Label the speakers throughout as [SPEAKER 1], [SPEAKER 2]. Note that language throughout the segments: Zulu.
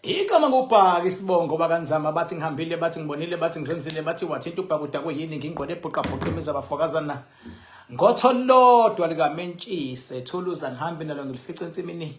[SPEAKER 1] igama kubhaka isibongo bakanzama bathi ngihambile bathi ngibonile bathi ngizenzile bathi wathinta ubhakuda kuyini ngingqwele ebhuqabhuqa imizi abafokazana ngotho lodwa likamentshise thuluza ngihambe nalo ngilifice ensimini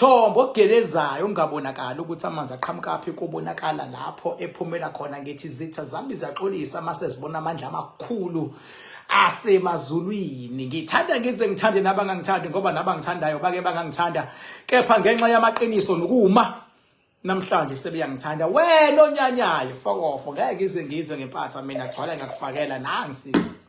[SPEAKER 1] Mthombo ogelezayo ungabonakali ukuthi amanzi aqhamukaphi kubonakala lapho ephumela khona ngithi zitha zami ziyaxolisa uma sezibona amandla amakhulu asemazulwini ngithanda ngize ngithande nabangangithandi ngoba nabangithandayo bake bangangithanda kepha ngenxa yamaqiniso nokuma namhlanje sebeyangithanda wena onyanyayo fokofo ngeke ngize ngizwe ngempatha mina gcwala ngakufakela nangisisi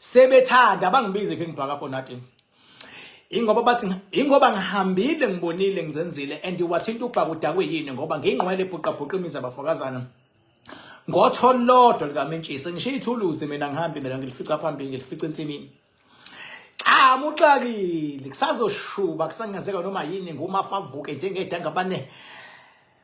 [SPEAKER 1] sebethanda bangibize ke ngibhaka for nothing ingoba bathi ingoba ngihambile ngibonile ngizenzile and wathinta ubhaka udakwe yini ngoba ngingqwele ebhuqa bhuqa imizi abafokazana ngotholodwa likamentshisi ngisho ithuluzi mina ngihambe mina ngilifica phambili ngilifica ensimini amuxakile kusazoshuba kusangenzeka noma yini ngumafavuke njengedanga bane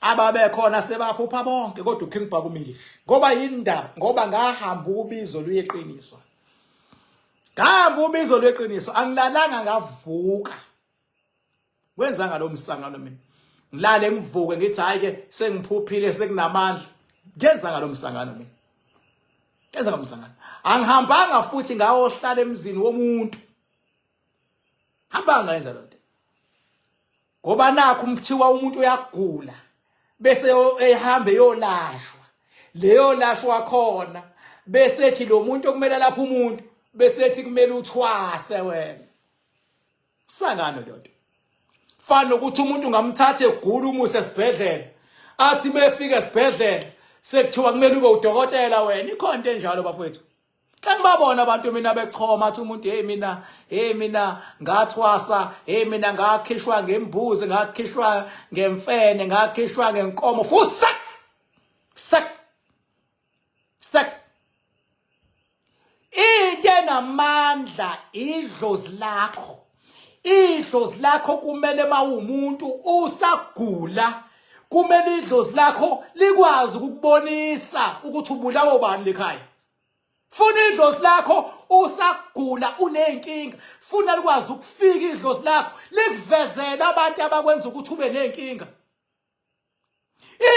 [SPEAKER 1] ababekhona sebaphupha bonke kodwa uKing Bhakumile ngoba yindaba ngoba ngahamba ubizo luyeqiniso ngahamba ubizo lweqiniso angilalanga ngavuka wenza ngalomsangano mina ngilale ngivuke ngithi hayi ke sengiphuphile sekunamandla ngenza ngalomsangano mina ngenza ngalomsangano angihambanga futhi ngayohlala emzini womuntu hambanga ngenza lonto ngoba nakho umthiwa umuntu uyagula bese ehambe yolashwa leyo lashwa khona bese ethi lo muntu okumele lapha umuntu bese ethi kumele uthwase wena sangano ndoda fana ukuthi umuntu ngamthathe egula umuse esibhedlela athi befika esibhedlela sekuthiwa kumele ube udokotela wena ikhonto enjalo bafowethu Kanti babona abantu mina bechoma athi umuntu hey mina hey mina ngathwasa hey mina ngakhishwa ngembuzi ngakhishwa ngemfene ngakhishwa ngenkomo fusa sek sek into enamandla idlozi lakho idlozi lakho kumele mawumuntu usagula kumele idlozi lakho likwazi ukubonisa ukuthi ubulawa ubani lekhaya funa idlozi lakho usagula uneyinkinga funa likwazi ukufika idlozi lakho likuvezela abantu abakwenza ukuthi ube neyinkinga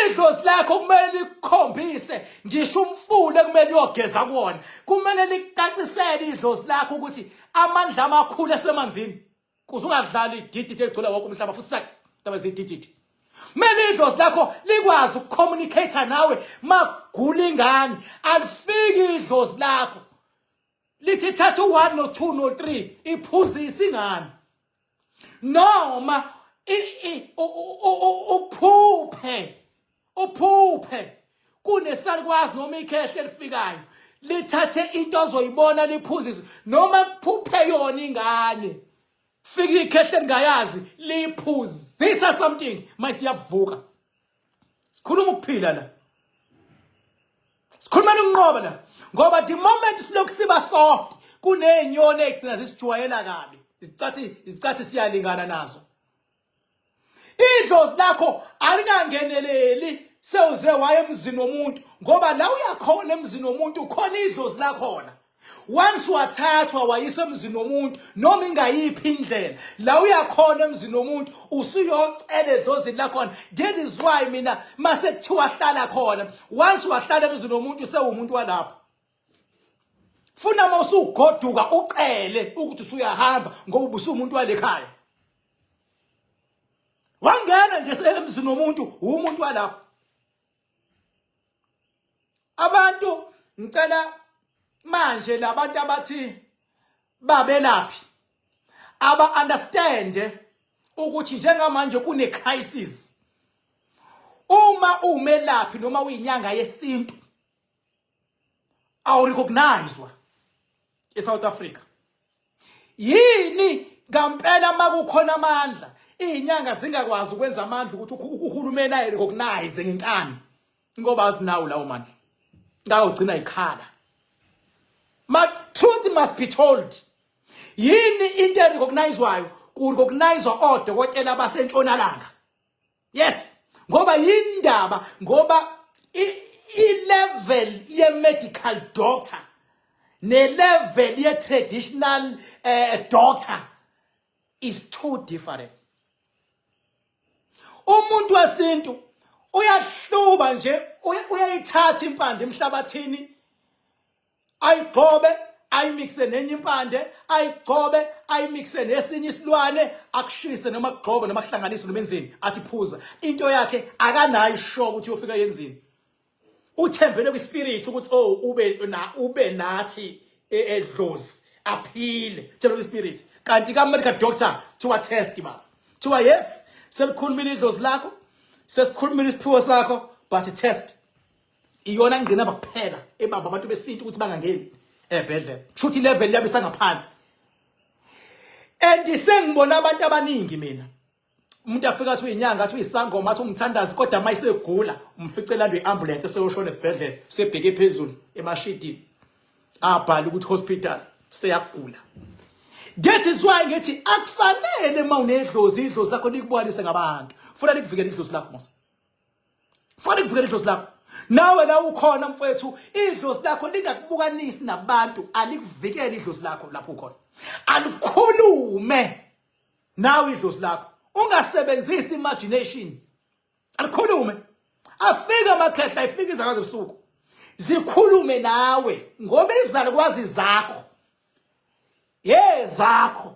[SPEAKER 1] idlozi lakho kumele likhombise ngisho umfula ekumele uyogeza kuwona kumele licacisele idlozi lakho ukuthi amandla amakhulu esemanzini kuze ungadlali idididi egcwele wonke umhlaba futhi sakaba zidididi kumele idlozi lakho likwazi ukucommunicate nawe magula ingane alifiki idlozi lakho lithi thatha u-one no-two no-three iphuzise ingane noma uphuphe uphuphe kunesalikwazi noma ikhehle elifikayo lithathe into ozoyibona liphuzise noma kuphuphe yona ingane fika ikhehle lingayazi liphuzisa something mayisiyavuka sikhuluma ukuphila la sikhuluma ukunqoba la ngoba the moment silokhu siba soft kunezinyoni ezigcina zisijwayela kabi izicathi izicathi siyalingana nazo idlozi lakho alingangeneleli sewuze waye emzini womuntu ngoba la uyakhona emzini womuntu ukhona idlozi lakhona once wathathwa wayisa emzini womuntu noma ingayiphi indlela la uyakhona emzini womuntu usuyocela edlozini lakhona that is why mina mase kuthiwa hlala khona once wahlala emzini womuntu usewumuntu walapho funa uma usugoduka ucele ukuthi usuyahamba ngoba ubusumuntu walekhaya wangena nje emzini womuntu umuntu walapho abantu ngicela manje labantu abathi babelaphi aba understand ukuthi njengamanje kune crisis uma umelaphi noma uyinyanga yesintu awurecognizwa eSouth Africa yini ngampela makukhona amandla izinyanga zingakwazi ukwenza amandla ukuthi uhulumeni ayi recognize ngenkani ngoba azinawo lawo mandla ngawugcina ikhala ma truth must be told yini into erecognizwayo kurecognizwa odokotela basentshonalanga yes ngoba yindaba ngoba i-level ye-medical doctor ne-level ye-traditional uh, doctor is too different umuntu wesintu uyahluba nje uyayithatha impande emhlabathini ayigcobe ayimixe nenye impande ayigcobe ayimixe nesinye isilwane akushise noma kugxobe noma kuhlanganise noma enzini athi phuza into yakhe akanayo ishoka ukuthi uyofika yenzini uthembele kwispirit ukuthi oh ube na ube nathi e, edlozi aphile thembele kwispirit kanti ka medical doctor thiwa test ba thiwa yes selikhulumile idlozi lakho sesikhulumile isiphiwo sakho but test iyona ngqinamba kuphela ebamba abantu besintu ukuthi bangangeni ebhedlela shuthi level yabo isangaphansi and sengibona abantu abaningi mina umuntu afika athi uyinyanga athi uyisangoma athi umthandazi kodwa uma isegula umfice landwe iambulance eseyoshona esibhedlela sebheke phezulu emashidini abhala ukuthi hospital seyagula that is why ngithi akufanele uma unedlozi idlozi lakho likubonise ngabantu funa likuvikele idlozi lakho mose fanele kuvikele idlozi lakho nawe la ukhona mfowethu idlozi lakho lingakubukanisi nabantu alikuvikele idlozi lakho lapho ukhona alikhulume nawe idlozi lakho ungasebenzisi imagination alikhulume afika amakhehla ifika izakazo ebusuku zikhulume nawe ngoba izalukwazi zakho yezakho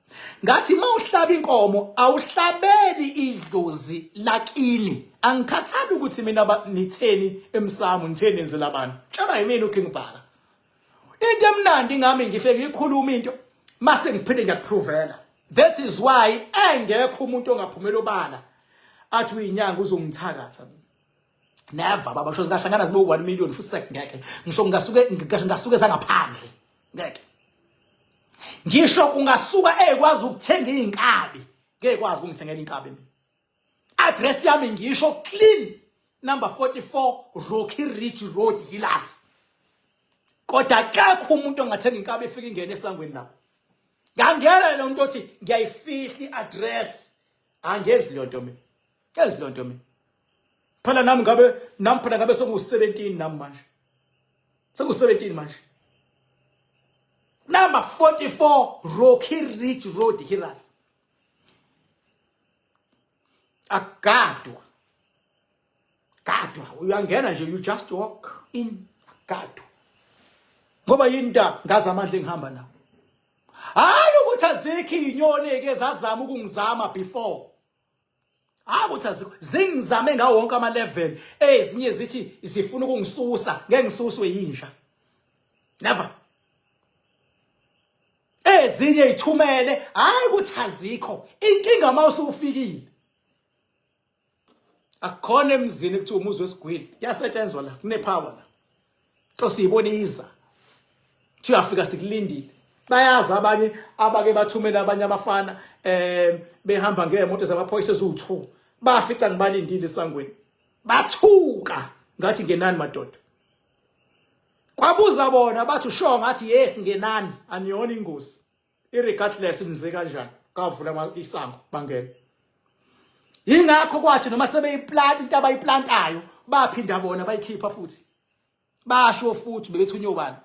[SPEAKER 1] ngathi uma uhlaba inkomo awuhlabeli idlozi lakini angikhathali ukuthi mina nitheni emsamo nitheni enzela abantu tshela yimina uking bhaka into emnandi ngami ngifike ngikhuluma into mase ngiphinde ngiyakuprovela that is why engekho umuntu ongaphumela obala athi uyinyanga uzongithakatha mina never baba sho singahlangana zibe 1 million futhi sek ngeke ngisho ngasuke ngasuke sangaphandle ngeke ngisho kungasuka ekwazi ukuthenga izinkabi ngeke kwazi ukungithengela inkabi mina address yami ngisho clean number 44 Rocky Ridge Road Hilary kodwa akekho umuntu ongathenga inkabi efika ingene esangweni lapho ngangena lo muntu othi ngiyayifihla iaddress angenzi leyo nto mina Yazi lonto mina. Phela nami ngabe nami phela ngabe soku 17 nami manje. Soku 17 manje. Number 44 Rocky Ridge Road Hiral. Agadwa. Gadwa uyangena nje you just walk in agadwa. Ngoba yini nta ngazi amandla engihamba nawo. Hayi ukuthi azikho inyoni eke zazama ukungizama before. hayi ukuthi azikho zingizame ngawo wonke ama-level ezinye zithi zifuna ukungisusa ngeke ngisuswe yinja never ezinye ithumele hayi ukuthi azikho inkinga uma usufikile akukhona emzini kuthiwa umuzi wesigwili kuyasetshenzwa la kunepower la to siyibona iza siyafika sikulindile bayazi abanye abake bathumela abanye abafana eh behamba ngeemoto zamaphoyisa eziwu2 bafica ngibalindile esangweni bathuka ngathi ngenani madoda kwabuza bona bathi usho ngathi yes ngenani aniyona ingozi iregardless nize kanjani kavula isango bangena yingakho kwathi noma sebeyiplant into abayiplantayo baphinda bona bayikhipha futhi basho futhi bebethunywe ubani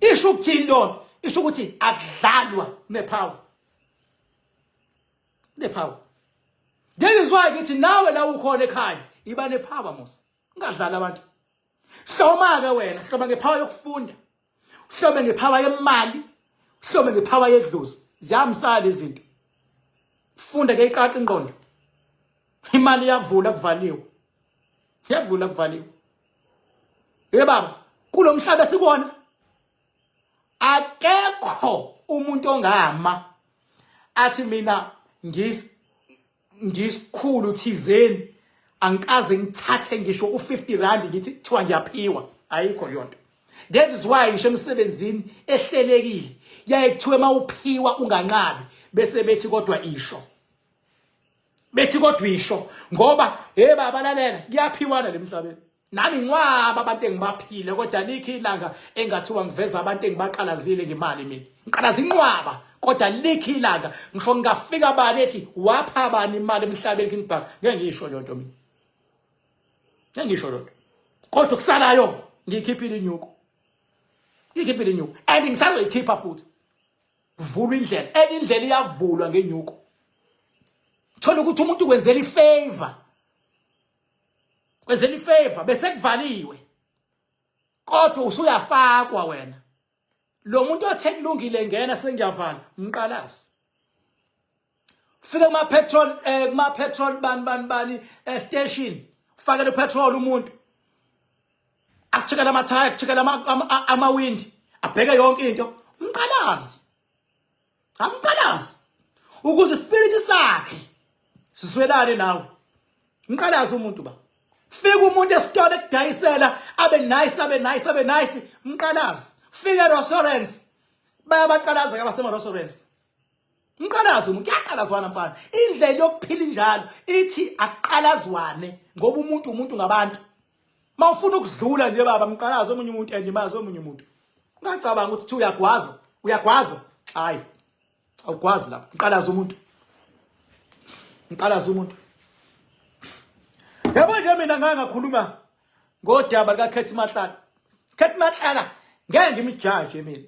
[SPEAKER 1] isho ukuthini lona isho ukuthi akudlalwa nepower nepower ngiyizwayo ukuthi nawe la ukhona ekhaya iba nepower mos ungadlala abantu hloma ke wena hloma ngepower yokufunda uhlome ngephawa yemali uhlome ngephawa yedlozi ziyahambisana lezinto funda ke iqaqa ingqondo imali iyavula kuvaliwe iyavula kuvaliwe ye baba kulomhlaba sikona akekho umuntu ongama athi mina ngis ngisikhulu thizeni angikaze ngithathe ngisho u50 rand ngithi kuthiwa ngiyaphiwa ayikho yonto lezi ziwayo ngisho emsebenzini ehlelekile yaye kuthiwe mawuphiwa unganqabi bese bethi kodwa isho bethi kodwa isho ngoba hey baba lalela kuyaphiwana lemhlabeni nami ngiwaba abantu engibaphile kodwa likho ilanga engathiwa ngiveza abantu engibaqalazile ngemali mina ngiqalaza inqwaba kodwa likho ilanga ngisho ngingafika bani ethi wapha bani imali emhlabeni King Bhaka ngeke ngisho leyo nto mina ngeke ngisho leyo nto kodwa kusalayo ngiyikhiphile inyuko ngiyikhiphile inyuko and ngisazoyikhipha futhi vula indlela enye indlela iyavulwa ngenyuko thola ukuthi umuntu kwenzela ifavor kwenzela ifavor bese kuvaliwe kodwa usuyafakwa wena lo muntu othe kulungile ngena sengiyavala mqalazi fika kuma petrol eh kuma petrol bani bani bani eh, station fakele petrol umuntu akuchekela amathaya akuchekela amawindi abheke yonke into mqalazi amqalazi ukuze spirit sakhe siswelane nawe mqalazi umuntu ba fika umuntu esitolo ekudayisela abe nice abe nice abe nice mqalazi fika restaurants bayabaqalaza ke abasema restaurants mqalazi umuntu uyaqalazwana mfana indlela yokuphila injalo ithi aqalazwane ngoba umuntu umuntu ngabantu mawufuna ukudlula nje baba mqalaze omunye umuntu and imazi omunye umuntu ungacabanga ukuthi thi uyagwaza uyagwaza hayi awugwazi lapho mqalaze umuntu mqalaze umuntu yabo nje mina ngake ngakhuluma ngodaba likaKhethi Matlala Khethi Matlala ngeke ngimjaje mina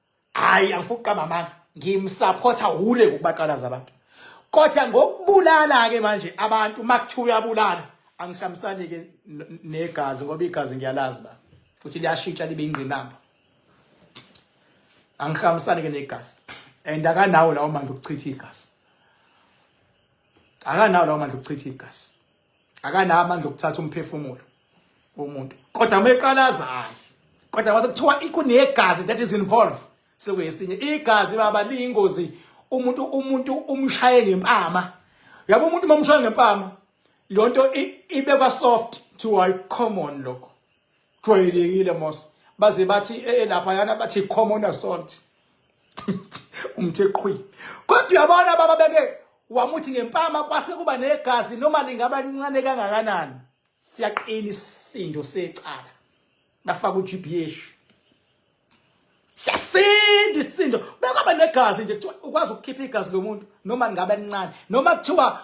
[SPEAKER 1] hayi angifuni ukuqamba amanga ngimsupporta hule ukubaqalaza abantu kodwa ngokubulala ke manje abantu makuthiwa uyabulala angihlamisani ke negazi ngoba igazi ngiyalazi ba futhi liyashintsha libe ingqinamba angihlamisani ke negazi and akanawo lawo manje ukuchitha igazi akanawo lawo manje ukuchitha igazi akanawo amandla okuthatha umphefumulo womuntu kodwa uma eqalaza hayi kodwa mase kuthiwa ikunegazi that is involved sekuyesinye igazi baba liyingozi umuntu umuntu umshaye ngempama yabo umuntu mamshaye ngempama lonto ibekwa soft to a common lokho jwayelekile mos baze bathi eh, eh lapha yana bathi common assault umthe qhwi kodwa uyabona baba beke wamuthi ngempama kwase kuba negazi noma lingaba lincane kangakanani siyaqina isindo secala bafaka uGBH siyasinda isisindo bekwaba negazi nje kuthiwa ukwazi ukukhipha igazi lomuntu noma lingabe lincane noma kuthiwa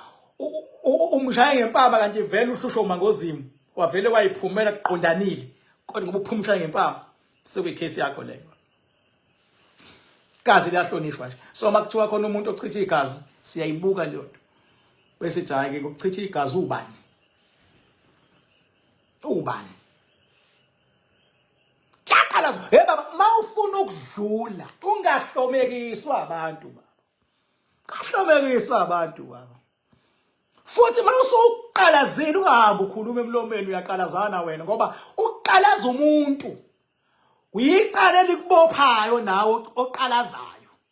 [SPEAKER 1] umshaye ngempama kanti vele ushusho mangozimu wavele wayiphumela kuqondanile kodwa ngoba uphuma umshaye ngempama sekuyikhesi yakho leyo igazi liyahlonishwa nje so uma kuthiwa khona umuntu ochitha igazi siyayibuka leyo nto bese ithi hhayi-ke kuchitha igazi ubani ubani Yaqalazo, hey baba, mawufuna ukudlula ungahlomekiswa abantu baba. Kahlomekiswa abantu baba. Futhi mawusuqalazile ungahambi ukhuluma emlomeni uyaqalazana wena ngoba uqalaza umuntu. Uyicala elikubophayo nawe oqalazayo.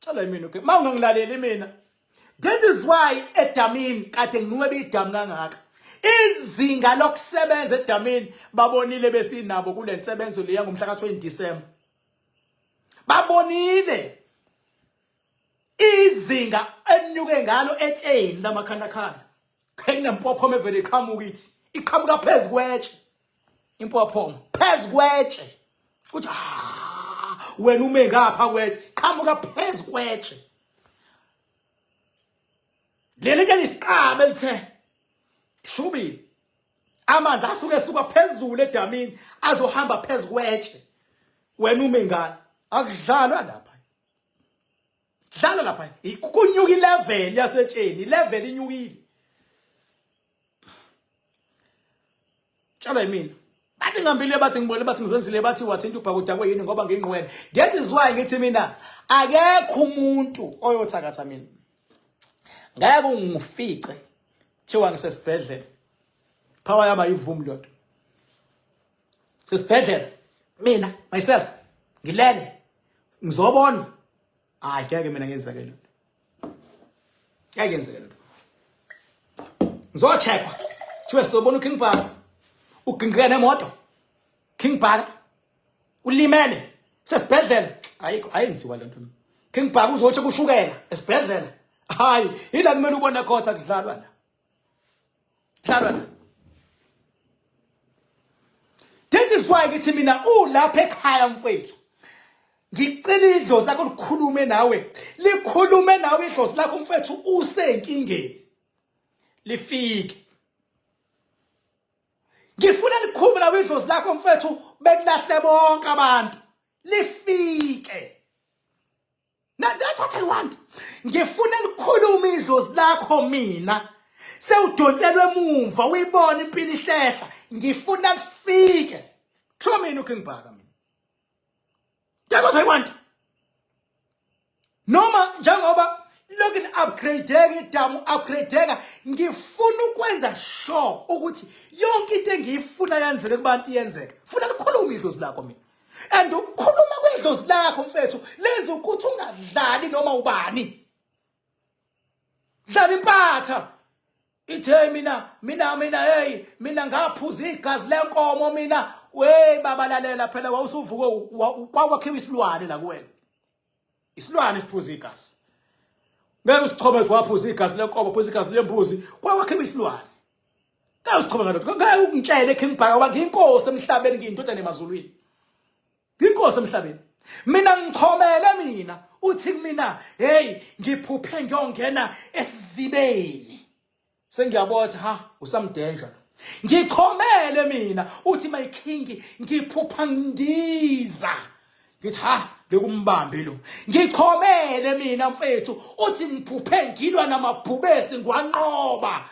[SPEAKER 1] Cela mina okay. Uma ungangilaleli mina. That is why edamini kade nginuke beyidamu kangaka. Izinga lokusebenza edamini babonile besinabo kule nsebenzo leya ngomhla ka-20 December. Babonile izinga enyuke ngalo etsheni lamakhandakhanda. Khayina mpophoma evele iqhamuka ithi iqhamuka phezu kwetshe. impophoma phezu kwetshe futhi ah, wena ume ngapha kwetshe qhamuka phezu kwetshe leli ke lisiqaba elithe shubile amanzi asuke esuka phezulu edamini azohamba phezu kwetshe wena ume ngani akudlalwa lapha dlala lapha kunyuka ilevel yasetsheni ilevel inyukile tshalo yimina bathi ngihambile bathi ngibonile bathi ngizenzile bathi wathinta ubhakudakwe yini ngoba ngingqwele that is why ngithi mina akekho umuntu oyothakatha mina ngeke ungifice thiwa ngisesibhedlela power yami ayivumi lento sesibhedlela mina myself ngilele ngizobona hayi ngeke mina ngenzeke lento ngeke ngenzeke lento ngizothekwa thiwe sobona uking bhaka ugingqika nemoto king bhaka ulimele sesibhedlela ayikho ayenziwa lento king bhaka uzothi kushukela esibhedlela hayi yila kumele ubone khotha kudlalwa la Hlalwana. That is why ngithi mina ulapha ekhaya mfethu. Ngicela idlozi lakho likhulume nawe. Likhulume nawe idlozi lakho mfethu usenkingeni. Lifike. Ngifuna likhulume nawe idlozi lakho mfethu bekulahle bonke abantu. Lifike. Now that's what I want. Ngifuna likhulume idlozi lakho mina. Sewudonselwe emuva uyibona impilo ihlehla. Ngifuna lifike. Kusho mina ukingibhaka mina. That's what I want. Noma njengoba lokin upgradeka idamu upgradeka ngifuna ukwenza sure ukuthi yonke into engiyifuna yenzeke kubantu iyenzeka. Funa likhulume idlozi lakho mina. and ukukhuluma kwedlozi lakho mfethu lenza ukuthi ungadlali noma ubani dlala impatha ithe mina mina mina hey mina ngaphuza igazi lenkomo mina we baba lalela phela wawusuvuke kwakhiwa isilwane la kuwena isilwane siphuza igazi ngeke usichome ukuthi waphuza igazi lenkomo phuza igazi lembuzi kwawakhe isilwane ngeke usichome ngalokho ngeke ukungitshele ekhe ngibhaka uba ngiyinkosi emhlabeni ngiyindodana emazulwini ngiyinkosi emhlabeni mina ngichomele mina uthi kumina hey ngiphuphe ngiyongena esizibeni Sengiyabotha ha usamdenja. Ngichomele mina uthi my king ngiphupha ngiza. Ngithi ha ngikumbambe lo. Ngichomele mina mfethu uthi ngiphuphe ngilwa namabhubesi ngwanqoba.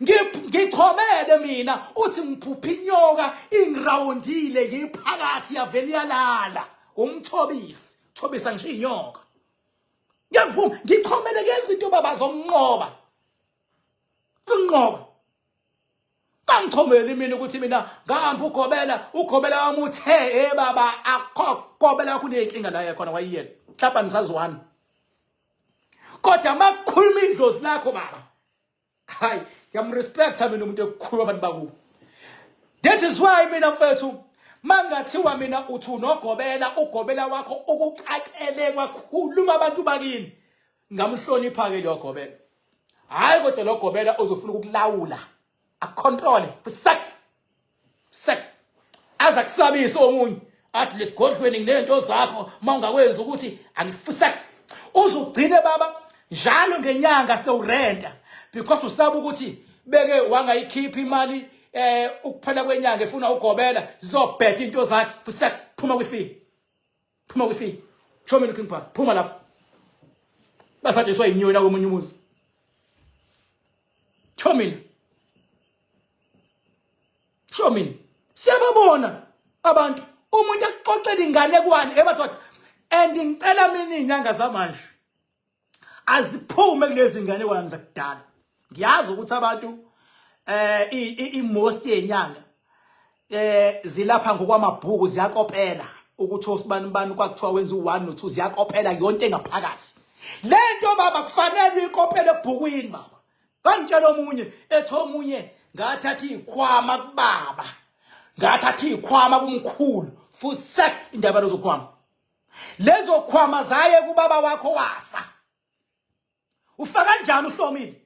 [SPEAKER 1] Ngichomele mina uthi ngiphupha inyoka ingirawundile ngiphakathi yavele yalala. Umthobisi, thobisa ngisho inyoka. ngiyakuvuma ngixhomeleke izinto baba zonqoba kunqoba bangixhomeli mina ukuthi mina ngihamba ugobela ugobela wami uthe hey baba akho gobela yakho uneyinkinga la yakhona wayiyena mhlawumbe nisazwana kodwa makukhuluma idlozi lakho baba hayi ngiyamrespecta mina umuntu ekukhulu abantu bakubo that is why mina mfethu mangathiwa mina uthi unogobela ugobela wakho ukuqaqele kwakhuluma abantu bakini ngamhlonipha-ke logobela hhayi kodwa logobela uzofuna ukukulawula acontrole fusek se aza kusabisa omunye athi lesigodlweni nginento zakho mawungakwenza ukuthi angifisa uzugcine baba njalo ngenyanga sewurenta because usaba ukuthi beke wangayikhipha imali eh ukuphela kwenyanga efuna ugobela zizobheda into zakhe futhi phuma kwifield phuma kwifi show me looking park phuma lapho basatshiswa yinyoni la komunye umuzi show me show me siyababona abantu umuntu axoxela ingane kwani ebadoda and ngicela mina inyanga zamanje aziphume kulezi ngane kwami zakudala ngiyazi ukuthi abantu eh i-most yenyanga eh zilapha ngokwamabhuku ziyakopela ukuthi osibani ubani kwakuthiwa wenza u1 no2 ziyakopela yonke engaphakathi lento baba kufanele uyikopele ebhukwini baba bangitshela omunye ethi omunye ngathatha izikhwama kubaba ngathatha izikhwama kumkhulu futhi sek indaba lozokhwama lezo khwama zaye kubaba wakho wafa ufa kanjani uhlomile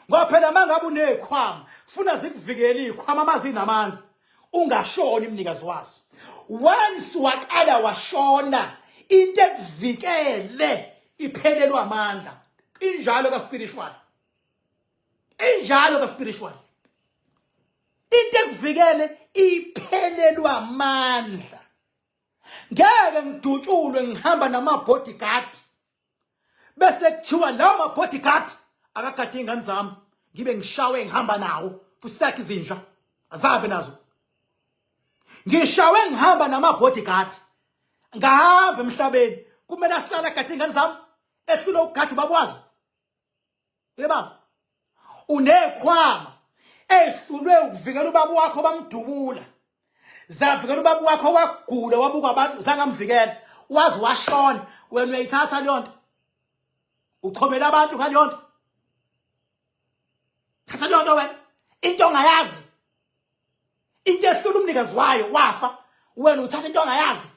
[SPEAKER 1] ngoba phela mangabe unezikhwama funa zikuvikele izikhwama amazinamandla ungashoni imnikazi wazo once waqala washona into ekuvikele iphelelwa amandla injalo ka spiritual injalo ka spiritual into ekuvikele iphelelwa amandla ngeke ngidutshulwe ngihamba nama-bodyguard bese kuthiwa lawo ma-bodyguard akagade iy'ngane zami ngibe ngishawe ngihamba nawo kusakhe izinja azabe nazo ngishawe ngihamba nama-bodyguard ngahamba emhlabeni kumele ahlale agade iy'ngane zami ehlule ukugada ubaba wazo Uyababa? Unekhwama ehlulwe ukuvikela ubaba wakho bamdubula. Zavikela ubaba wakho wagula wabuka abantu zangamvikela. Wazi washona wena uyayithatha leyo nto. Uchomela abantu ngaleyo nto. Thatha leyo nto wena. Into ongayazi. Into ehlula umnikazi wayo wafa. Wena uthatha into ongayazi.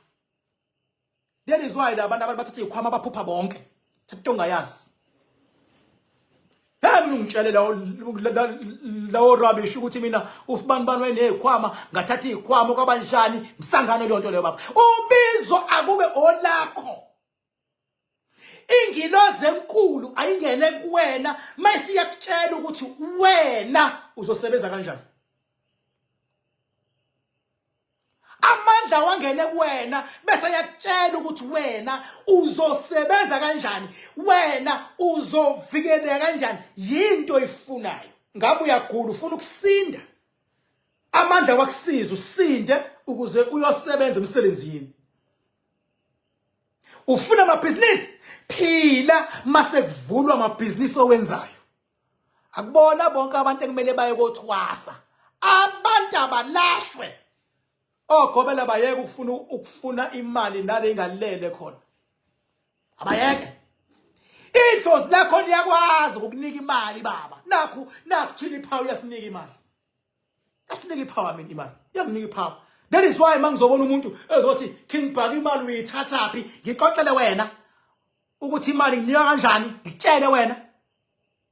[SPEAKER 1] That is why labantu abantu bathatha ikhwama baphupha bonke. Thatha into ongayazi. Hey mina ungitshele lawo lawo rubbish ukuthi mina usibani bani wenezikhwama ngathatha izikhwama kwabanjani msangano lonto leyo baba. Ubizo akube olakho. ingilozi enkulu ayingene kuwena mayisiyakutshela ukuthi wena uzosebenza kanjani amandla wangene kuwena bese yakutshela ukuthi wena uzosebenza kanjani wena uzovikeleka kanjani yinto oyifunayo ngabe uyagula ufuna ukusinda amandla wakusiza usinde ukuze uyosebenza emsebenzini ufuna amabhizinisi phila mase kuvulwa amabhizinisi owenzayo akubona bonke abantu ekumele baye kothwasa abantu abalashwe ogobela bayeke ukufuna ukufuna imali nale ingalele khona abayeke idlozi lakho liyakwazi ukukunika imali baba nakhu nakhu thina iphawu yasinika imali Asinike ipower mina imali. Yanginika ipower. That is why mangizobona umuntu ezothi King Bhaka imali uyithatha phi? Ngixoxele wena ukuthi imali nginika kanjani? Ngitshele wena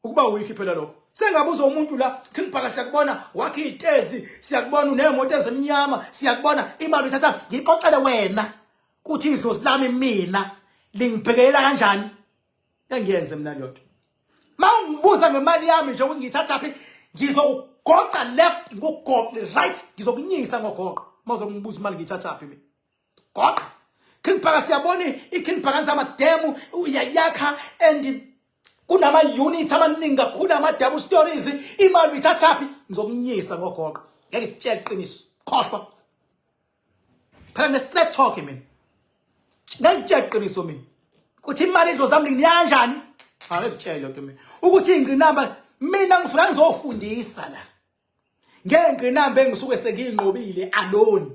[SPEAKER 1] ukuba uyikhiphela lokho. Sengabuza umuntu la King Bhaka siyakubona wakhe itezi, siyakubona unemoto ezimnyama, siyakubona imali uyithatha. Ngixoxele wena ukuthi idlozi lami mina lingibhekelela kanjani? engiyenze mina lento mawungibuza ngemali yami nje ukuthi ngithatha phi ngizokugoqa left ngogoqe right ngizokunyisa ngogoqo mawuzokungibuza imali ngithatha phi mina goqa King Bhaka siyabona iKing Bhaka nzama demo uyayakha and kunama units amaningi kakhulu ama double stories imali uyithathaphi ngizokunyisa ngogoqo ngeke ngitshele iqiniso khohlwa phela nge-straight talk mina ngangitshela iqiniso mina ukuthi imali idlozi lami ngiyanjani ake kutshele lento mina ukuthi ingqinamba mina ngifuna ngizofundisa la ngengqinamba engisuke sengiyinqobile alone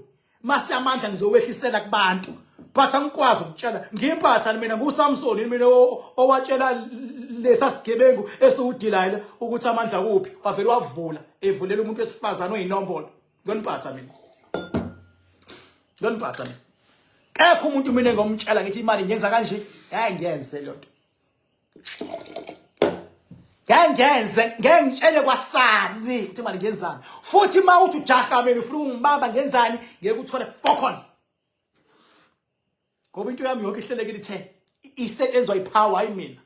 [SPEAKER 1] mase amandla ngizowehlisela kubantu but angikwazi ukutshela ngiyiphatha mina nguSamson mina owatshela lesasigebengu esiwudilayile ukuthi amandla kuphi wavele wavula evulela umuntu wesifazana oyinombolo Ngoniphatha mina. Ngoniphatha mina. Kekho umuntu mina ngomtshela ngithi imali ngenza kanje. Hayi ngenze lonto. Ngengenze ngengitshele kwasani ukuthi imali ngenzani. Futhi mawuthi ujaha mina ufuna ungibamba ngenzani ngeke uthole fokon. ngoba into yami yonke ihlelekile ithe isetshenzwa ipower hayi mina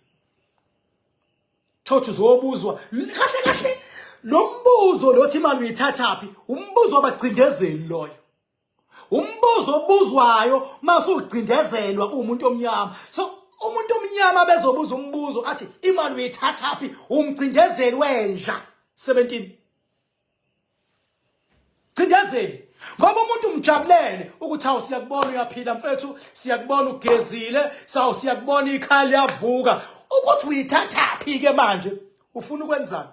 [SPEAKER 1] thothi uzobuzwa kahle kahle lo mbuzo lothi imali uyithathaphi umbuzo wabagcindezeli loyo umbuzo obuzwayo masugcindezelwa umuntu omnyama so umuntu omnyama bezobuza umbuzo athi imali uyithathaphi umgcindezeli wenja 17 Cindezeli ngoba umuntu umjabulele ukuthi awu siyakubona uyaphila mfethu siyakubona ugezile sawu siyakubona ikhaya liyavuka ukuthi uyithathaphi ke manje ufuna ukwenzani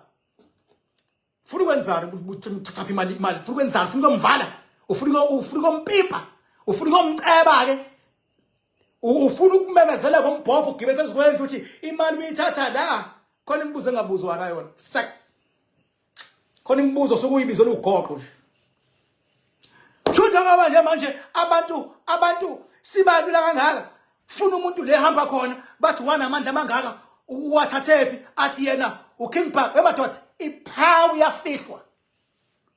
[SPEAKER 1] ufuna ukwenzani uthathaphi imali imali ufuna ukwenzani ufuna ukumvala ufuna ufuna ukumpipa ufuna ukumceba ke ufuna ukumemezela ngombhobho ugibele phezu kwendlu ukuthi imali uyithatha la khona imibuzo engabuzwa nayo yona khona imibuzo sokuyibizo lugoqo nje shutha ngoba nje manje abantu abantu sibalula kangaka funa umuntu le hamba khona bathi wanamandla amangaka uwathathephi athi yena uking park wemadoda iphawu yafihlwa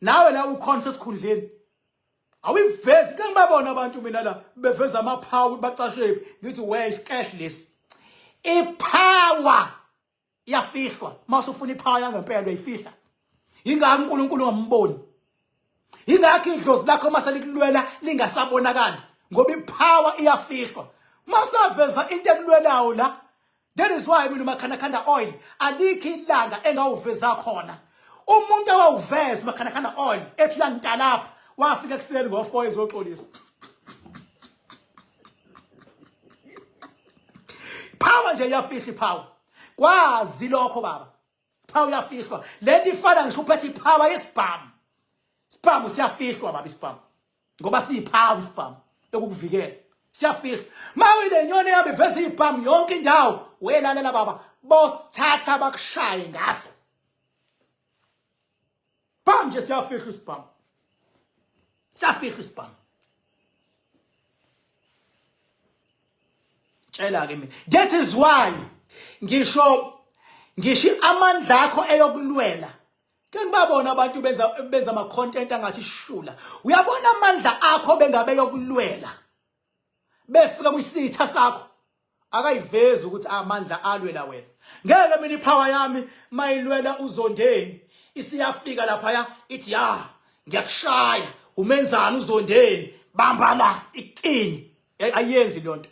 [SPEAKER 1] nawe la ukhona sesikhundleni awuyivezi ke ngibabona abantu mina la beveza amaphawu bacashephi ngithi we is cash lesi ipower iyafihlwa mase ufuna iphaya yangempela uyifihla ingaka uNkulunkulu ngamboni ingakho idlozi lakho mase likulwela lingasabonakali ngoba ipower iyafihlwa masaveza into ekulwelayo la that is why mina makhanda khanda oil alikho ilanga engawuveza khona umuntu awawuveza makhanda khanda oil ethi uyangidalapha wafika kuseni ngo4 ezoxolisa power nje iyafihla ipower kwazi lokho baba power iyafihlwa lento ifana ngisho uphethe ipower yesibhamu isibhamu siyafihlwa baba isibhamu ngoba siyipower isibhamu yokukuvikela siyafihlwa mawe lenyoni yabe veze ibhamu yonke indawo welalela baba bosithatha bakushaye ngaso Bam nje siyafihlwa isibhamu. Siyafihlwa isibhamu. Tshela ke mina. That is why ngisho ngisho amandla akho eyokulwela ke ngibabona abantu benza benza ama content angathi shula uyabona amandla akho bengabe yokulwela befika kwisitha sakho akayivezi ukuthi amandla alwela wena ngeke mina ipower yami mayilwela uzondeni isiyafika lapha ya ithi ya ngiyakushaya umenzani uzondeni bamba la ikini ayenzi lonto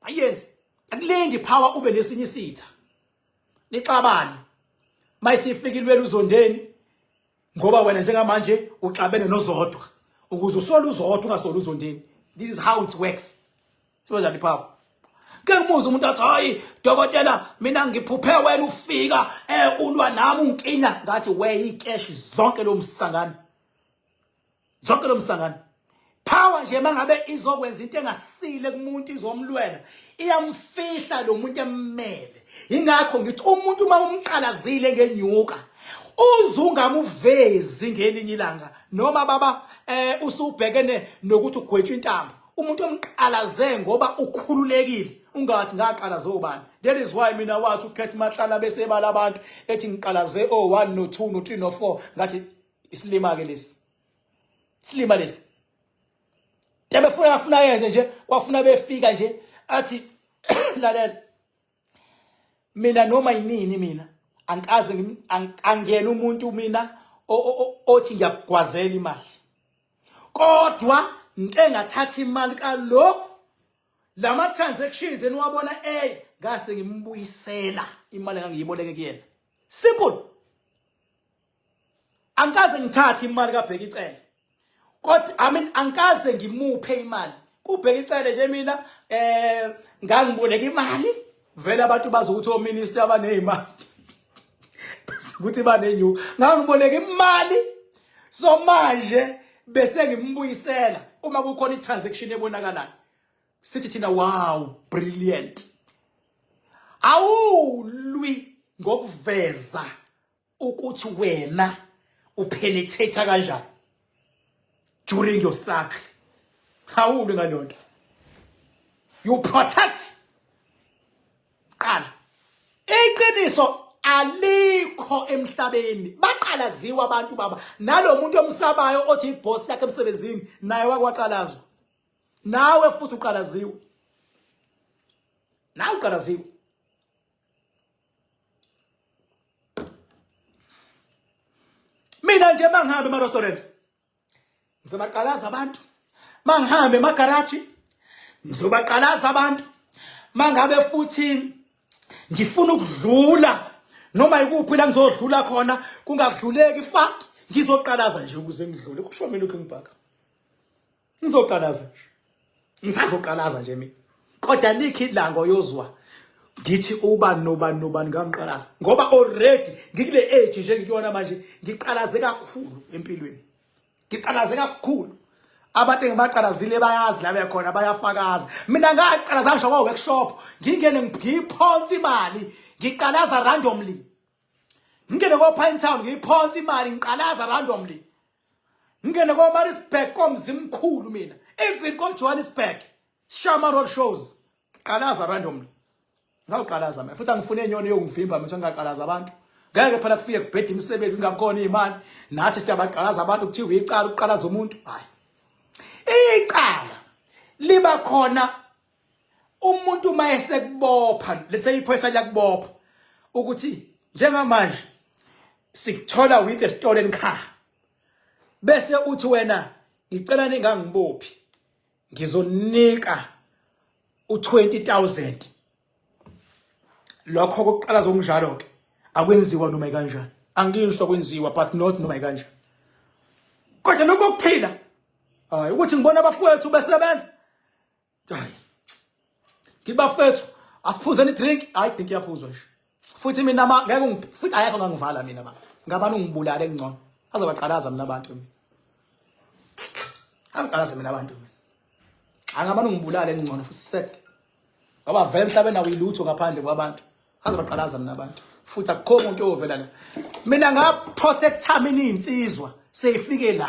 [SPEAKER 1] ayenzi akulingi power ube nesinye isitha nixabane mayisifikilwela uzondeni ngoba wena njengamanje uxabene nozodwa ukuze usole uzodwa ungasoli uzondeni this is how it works sibanjani phapho ke umuzi umuntu athi hayi dokotela mina ngiphuphe wena ufika eh ulwa nami unkinya ngathi we ikeshi zonke lo msangano zonke lo msangano power nje mangabe izokwenza into engasile kumuntu izomlwela iyamfihla lo muntu emmele ingakho ngithi umuntu uma umqalazile ngenyuka uzungamuvezi ngelinye ilanga noma baba eh usubhekene nokuthi ugwetshwa intambo umuntu omqalaze ngoba ukhululekile ungathi ngaqalaze obani that is why mina wathi ukhetha imahlala bese ebala abantu ethi ngiqalaze o1 no2 no3 no4 ngathi isilima ke lesi silima lesi tebefuna afuna yenze nje kwafuna befika nje athi lalela mina noma yinini mina angikaze angiyena umuntu mina othi ngiyakugwazela imali kodwa ngike ngathatha imali kalo lama transactions eniwabona ey ngase ngimbuyisela imali engangiyiboleke kuyena simple angikaze ngithathe imali kabheka icele kodwa i mean angikaze ngimuphe imali kubheka icele nje mina eh ngangiboleka imali vele abantu bazokuthi o minister abanezimali ukuthi banenyuka ngangiboleka imali so manje bese ngimbuyisela uma kukhona i-transaction ebonakalayo sithi thina wow brilliant awulwi ngokuveza ukuthi wena upenetrate kanjani during your struggle hawulu ngalonto you protect qala iqiniso alikho emhlabeni baqalaziwa abantu baba nalomuntu omsabayo othi iboss yakhe emsebenzini naye wakwaqalazwa nawe futhi uqalaziwe nawe uqalaziwe mina nje mangihambe ema restaurants ngizobaqalaza abantu mangihambe ema garage ngizobaqalaza abantu mangabe futhi ngifuna ukudlula noma ikuphi la ngizodlula khona kungadluleki fast ngizoqalaza nje ukuze ngidlule kusho mina lokho engibhaka ngizoqalaza nje ngisazoqalaza nje mina kodwa likhi ilanga oyozwa ngithi ubani nobani nobani ngamqalaza ngoba already ngikule age nje ngikuyona manje ngiqalaze kakhulu empilweni ngiqalaze kakhulu abantu engibaqalazile bayazi la bekhona bayafakaza mina ngaqalaza ngisho kwa workshop ngingene ngiphonsa imali ngiqalaza randomly ngingene ko Pine Town ngiphonsa imali ngiqalaza randomly ngingene komarisburg komzimkhulu mina even kojohannesburg shama road shows qalaza randomly ngawuqalaza mina futhi angifune inyoni yokungivimba mina ngingaqalaza abantu ngeke phela kufike kubheda imisebenzi ingakhona imali nathi siyabaqalaza abantu kuthiwa icala ukuqalaza umuntu hayi icala liba khona umuntu uma esekubopha lese iphoyisa liyakubopha ukuthi njengamanje sikuthola with a stolen car bese uthi wena ngicela ningangibophi ngizonika u20000 lokho kokuqala zokunjalo ke akwenziwa noma kanjani angisho kwenziwa but not noma kanjani kodwa lokho kuphila hayi ukuthi ngibona abafowethu besebenza hayi ngibafethu asiphuzeni idrink hayi idrink iyaphuzwa nje futhi mina ma ngeke futhi ayekho ngangivala mina ba ngabani ungibulale ngcono azobaqalaza mina abantu mina angibalaze mina abantu mina angabani ungibulale ngcono futhi sek ngoba vele emhlabeni awuyilutho ngaphandle kwabantu azobaqalaza mina abantu futhi akukho umuntu oyovela la mina ngaprotecta mina iy'nsizwa seyifike la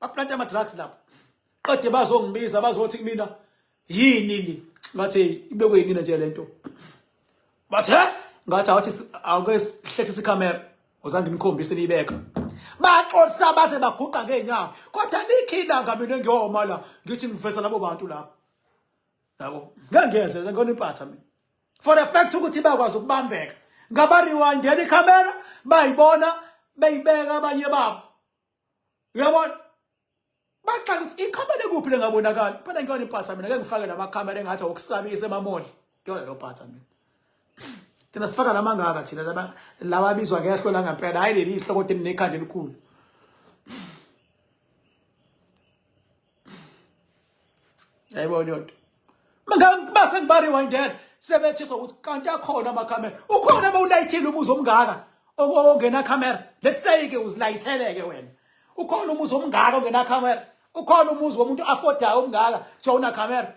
[SPEAKER 1] baplanta ama drugs lapho qede bazongibiza bazothi kumina yini ni ngathi ibekwe yimina nje lento bathe ngathi awuthi awuke sihlethisa icamera uzange ngikhombise nibeka baxolisa baze baguqa ngeenyawo kodwa likhilanga mina ngiyoma la ngithi ngiveza labo bantu lapho yabo ngeke ngeze ngikona impatha mina for the fact ukuthi bakwazi ukubambeka ngaba rewindela icamera bayibona beyibeka abanye babo uyabona baxa ukuthi ikhamera ekuphi lengabonakali phela ngiyona impatha mina ngeke ngifake namakhamera engathi okusabisa emamoli ngiyona lo phatha mina thina sifaka namangaka thina laba laba bizwa ngehlo la ngempela hayi leli ihlo kodwa elinekhanda elikhulu yayibona leyonto base ngibarewindele sebethiswa ukuthi kanti akhona amakhamera ukhona uma ulayithile umuzi omngaka ongena khamera let's say-ke uzilayithele-ke wena ukhona umuzi omngaka ongena khamera ukhona umuzi womuntu afodayo omngaka kuthiwa unakhamera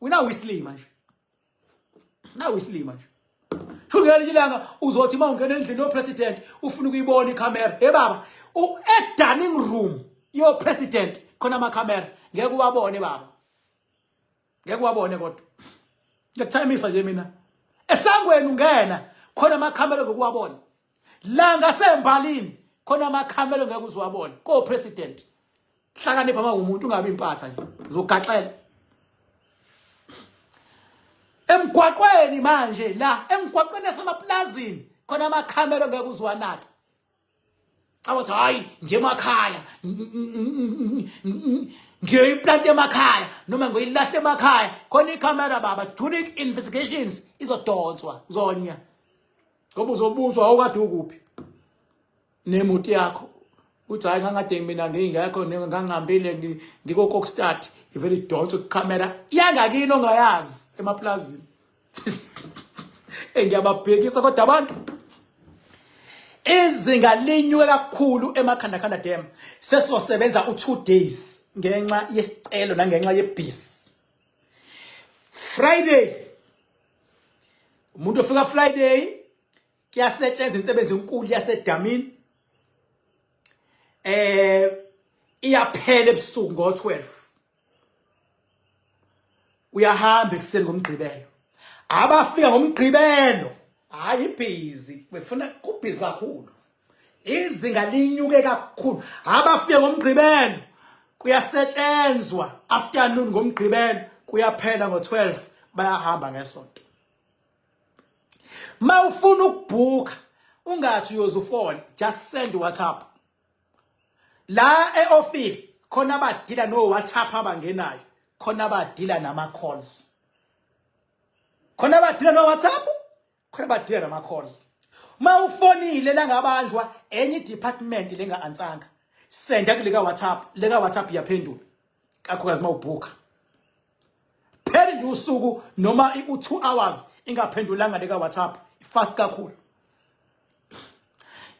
[SPEAKER 1] wina wislima nje nawe isilima nje ngelinye ilanga uzothi uma ungena endlini yopresident ufuna ukuyibona ikhamera he baba e-dining room yopresident khona amakhamera ngeke uwabone baba ngeke uwabone kodwa ngiyakuthayimisa nje mina esangweni ungena khona amakhamera ngokuwabona la ngasembalini khona amakhamelo ngeke uzwabone ko president hlakanipha uma umuntu ungabi impatha nje uzogaxela emgwaqweni manje la emgwaqweni yasemaplazini khona amakhamelo ngeke uzwanake awathi hayi nje emakhaya ngiyoyiplanta emakhaya noma ngiyoyilahle emakhaya khona ikhamera baba junic investigations izodonswa zonya ngoba uzobuzwa awukade ukuphi nemuti yakho uthi hayi ngangade mina ngingekho ngangihambile ngikokokstart ngivele idonse kukamera yangakini ongayazi emapulazini engiyababhekisa kodwa abantu izinga linyuke kakhulu emakhandakhanda dam sesosebenza u-two days ngenxa yesicelo nangenxa yebhisi Friday umuntu ofika Friday kuyasetshenzwa insebenzi enkulu yasedamini eh iyaphela ebusuku ngo12 uyahamba ekuseni ngomgqibelo abafika ngomgqibelo hayi busy befuna kubhizi kakhulu izinga linyuke kakhulu abafike ngomgqibelo kuyasetshenzwa afternoon ngomgqibelo kuyaphela ngo12 bayahamba ngesonto mawufuna ukubhuka ungathi uyozufona just send whatsapp la eoffice khona abadila no whatsapp abangenayo khona abadila nama calls khona abadila no whatsapp khona badile nama calls uma ufonile langabanjwa enye department lenga ansanga senda kuleka WhatsApp leka WhatsApp yaphendula kakhulukazi uma ubhuka pheli nje usuku noma u2 hours ingaphendulanga leka WhatsApp fast kakhulu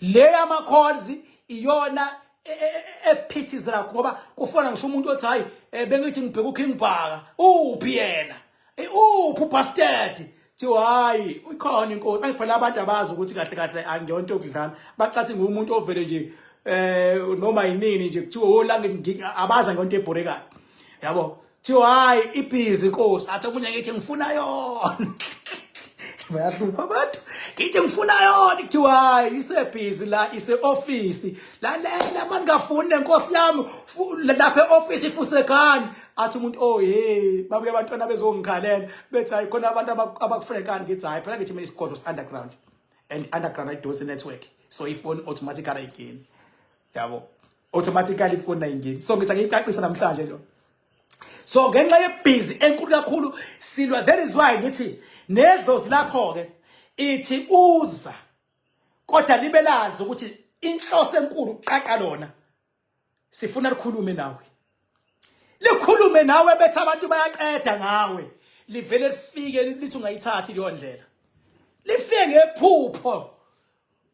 [SPEAKER 1] le yama calls iyona e, e, e, ephithiza kakhulu ngoba kufona ngisho umuntu othi hayi eh, bengithi ngibheka uKing Bhaka uphi yena eh, uphi ubastard thiwa hayi ukhona inkosi ayiphela abantu abazi ukuthi kahle kahle angiyonto okudlana bacathi ngumuntu ovele nje eh noma yinini nje kuthiwa olange oh, abaza ngonto ebhorekayo yabo Thiwa hayi ibhizi inkosi athi omunye ngithi ngifuna yona. Bayahlupha abantu. Ngithi ngifuna yona kuthiwa hayi isebhizi la ise office. Lalela manje ngafuni nenkosi yami fu- lapha eoffice ifusekani. Athi umuntu oh hey babuye abantwana bezongikhalela bethi hayi khona abantu abaku- abakufrekani ngithi hayi phela ngithi mina isigodlo underground and underground ayidosi network so ifoni automatically ayingeni. Yabo. automatically ifoni ayingeni so ngithi angiyicacisa namhlanje lo so ngenxa yebhizi enkulu kakhulu silwa that is why ngithi nedlozi lakho ke ithi uza kodwa libe lazi ukuthi inhloso enkulu uqaqa lona sifuna likhulume nawe likhulume nawe bethi abantu bayaqeda ngawe livele lifike lithi ungayithathi leyo ndlela lifike ngephupho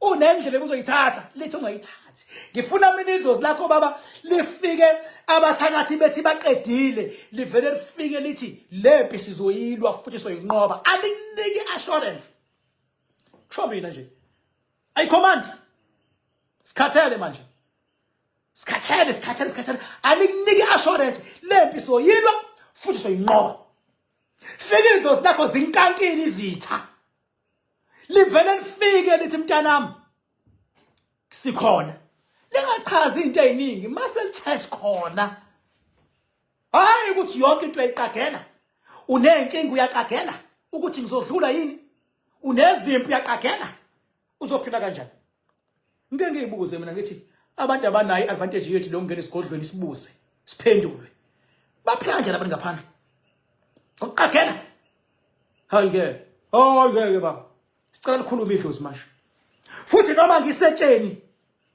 [SPEAKER 1] unendlela ebuzoyithatha lithi ungayithathi ngifuna mina idlozi lakho baba lifike abathakathi bethi baqedile livele lifike lithi lempi sizoyilwa futhi soyinqoba aliniki assurance kusho mina nje ayi command sikhathele manje sikhathele sikhathele sikhathele aliniki assurance lempi soyilwa futhi soyinqoba fika idlozi lakho zinkankini izitha livele lifike lithi mntanami sikhona lingachazi into eziningi mase lithes khona hayi ukuthi yonke into eyiqagela unenkinga uyaqagela ukuthi ngizodlula yini unezimpi uyaqagela uzophinda kanjani Ngike ngiyibuze mina ngithi abantu abanayo advantage yethu lo ngene sigodlweni sibuze siphendulwe. Baphila kanjani abantu ngaphandle? Uqagela. Hayi ngeke. Oh ngeke baba. Sicela likhulume idlozi manje. Futhi noma ngisetsheni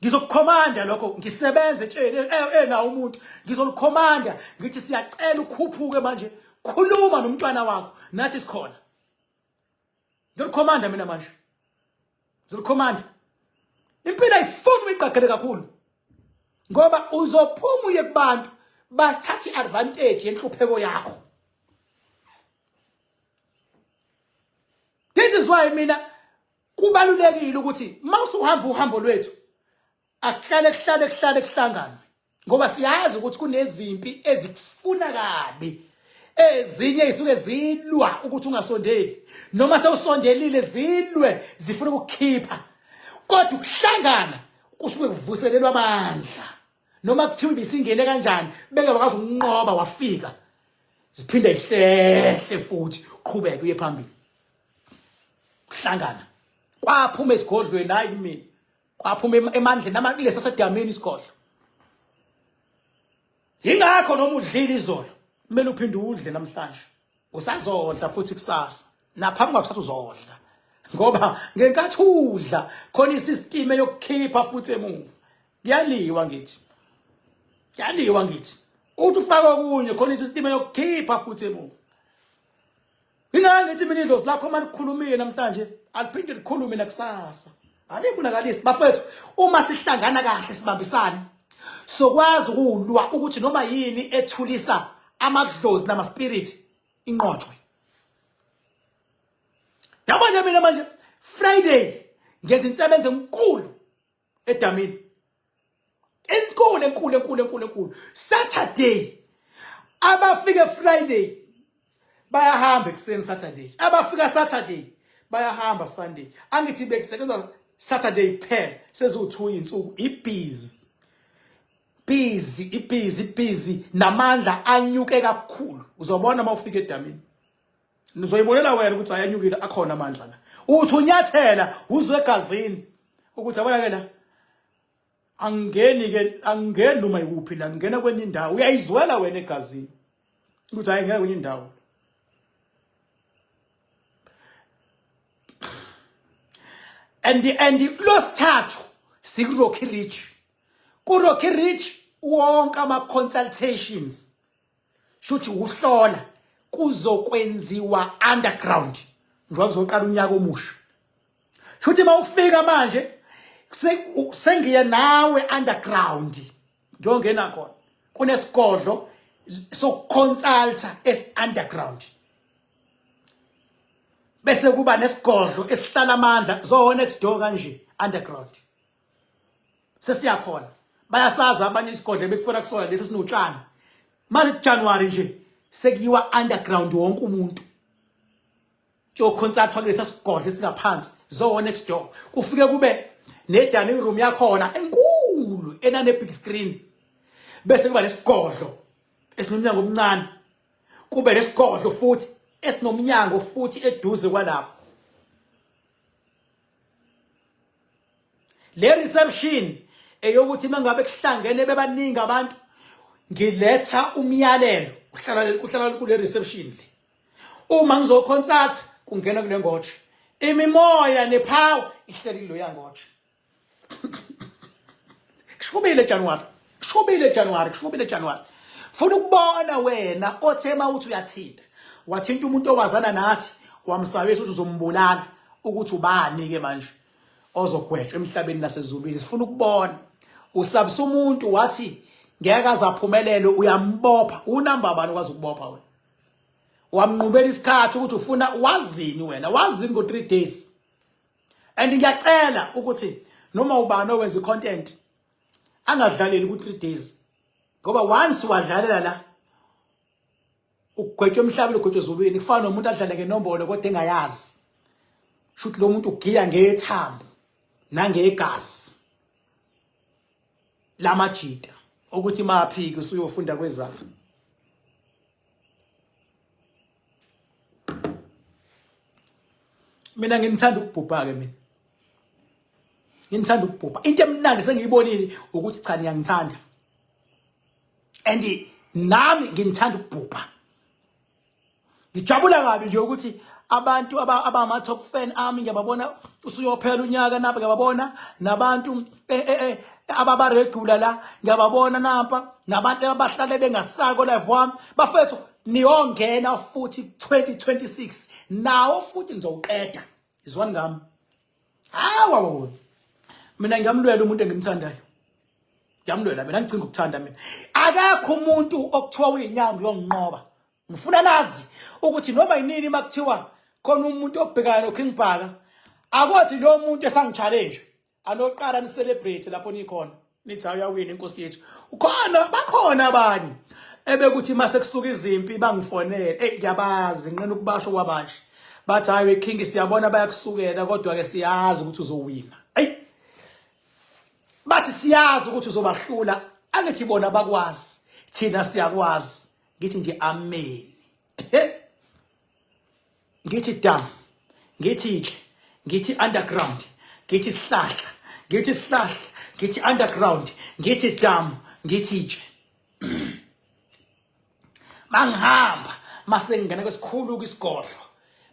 [SPEAKER 1] ngizokukhomanda lokho ngisebenze etsheni ena umuntu ngizolikhomanda ngithi siyacela ukhuphuke manje khuluma nomntwana wakho nathi sikhona Ngilikhomanda mina manje. Ngilikhomanda. Impilo ayifuni uyiqagele kakhulu. Ngoba uzophuma uye kubantu bathatha iadvantage yenhlupheko yakho. This is why mina kubalulekile ukuthi mawusuhamba uhambo lwethu akuhlale kuhlale kuhlale kuhlangane ngoba siyazi ukuthi kunezimpi ezikufuna kabi ezinye isuke zilwa ukuthi ungasondeli noma sewusondelile zilwe zifuna ukukhipha kodwa ukuhlangana kusuke kuvuselelwa amandla noma kuthiwa ibisingene kanjani beke wakazi ukunqoba wafika ziphinde ihlehle futhi uqhubeke uye phambili kuhlangana kwaphuma esigodlweni hayi mina kwaphuma emandleni nama kulesa sedamini isigodlo yingakho noma udlile izolo kumele uphinde udle namhlanje usazodla futhi kusasa naphambi kwakuthatha uzodla ngoba ngenkathi udla khona isisitime yokukhipha futhi emuva kuyaliwa ngithi kuyaliwa ngithi uthi ufaka okunye khona isisitime yokukhipha futhi emuva Ingane ngithi mina idlozi lakho uma likhulumile namhlanje aliphinde likhulume nakusasa. Alikunakalisi bafethu uma sihlangana kahle sibambisane sokwazi ukulwa ukuthi noma yini ethulisa amadlozi nama spirit inqotshwe. Yabona mina manje Friday ngenza insebenzo enkulu edamini enkulu enkulu enkulu enkulu enkulu saturday abafike friday bayahamba ekuseni saturday abafika saturday bayahamba sunday angithi bekusetshenzwa saturday kuphela seziwu-two insuku ibhizi busy ibhizi busy namandla anyuke kakhulu uzobona uma ufika edamini nizoyibonela wena ukuthi ayanyukile akhona amandla la uthi unyathela uzwe egazini ukuthi yabona ke la angeni ke angeni noma ikuphi la ngena kwenye indawo uyayizwela wena egazini ukuthi hayi ngeke kwenye indawo and and losithathu sikuRocky Ridge kuRocky Ridge wonke ama consultations shuthi ukuhlola kuzokwenziwa underground njengoba kuzoqala unyaka omusha shuthi mawufika manje sengiye nawe underground ngiyongena khona kunesigodlo sokuconsulta es underground bese kuba nesigodlo esihlala amandla zona next door kanje underground sesiyakhona bayasaza abanye isigodle bekufela kusona lesi sinotshani manje January nje sekuyiwa underground wonke umuntu kuyokhonsathwa kulesa sigodle esingaphansi zowo next door kufike kube ne dining room yakhona enkulu enane big screen bese kuba nesigodlo esinomnyango omncane kube nesigodlo futhi esinomnyango futhi eduze kwalapho le reception eyokuthi mangabe kuhlangene bebaningi abantu ngiletha umyalelo uhlala uhlala kule reception le uma ngizokhonsathi kungena kule ngotshe imimoya nephawu ihleli kuloya ngotshe kushubile January Kushubile January, kushubile January. Funa ukubona wena othe mawuthi uyathinta. Wathinta umuntu owazana nathi wamsabisa ukuthi uzombulala ukuthi ubani ke manje ozogwetshwa emhlabeni nasezulwini. Sifuna ukubona. Usabisa umuntu wathi ngeke azaphumelele uyambopha. Unamba bani kwazi ukubopha wena? Wamnqubela isikhathi ukuthi ufuna wazini wena? Wazini ngo 3 days? And ngiyacela ukuthi noma ubani owenza icontent angadlaleli ku 3 days ngoba once wadlalela la ugwetshwe emhlabeni ugwetshwe ezulwini kufana nomuntu adlale ngenombolo kodwa engayazi shuthi lo muntu ugiya ngethambo nangegazi lamajita ukuthi maphiki usuyofunda kwezakhe mina nginithanda ukubhubha ke mina nginithanda ukubhubha into emnandi sengiyibonile ukuthi cha niyangithanda and nami nginithanda ukubhubha ngijabula kabi nje ukuthi abantu abama top fan ami ngiyababona usuyophela unyaka nabo ngiyababona nabantu eh eh, eh ababa regular la ngiyababona nampa nabantu abahlale bengasako live wami bafethu niyongena futhi 2026 nawo futhi nizowuqeda izwani ngami hawa mina ngiyamlwela umuntu engimthandayo ngiyamlwela mina ngicinga ukuthanda mina akekho umuntu okuthiwa uyinyango uyonginqoba ngifuna nazi ukuthi noma yinini makuthiwa khona umuntu obhekana noKing Bhaka akothi lo muntu esangichallenge anoqala ni celebrate lapho nikhona nithi uyawina inkosi yethu ukhona bakhona abanye ebekuthi mase kusuka izimpi bangifonele hey ngiyabazi nqina ukubasho kwabasha bathi hayi we king siyabona bayakusukela kodwa ke siyazi ukuthi uzowina hey bathi siyazi ukuthi uzobahlula angithi bona bakwazi thina siyakwazi ngithi nje amen ngithi dam ngithi itshe ngithi underground ngithi sihlahla ngithi sihlahla ngithi underground ngithi dam ngithi itshe mangihamba mase ngingena kwesikhulu kwisigodlo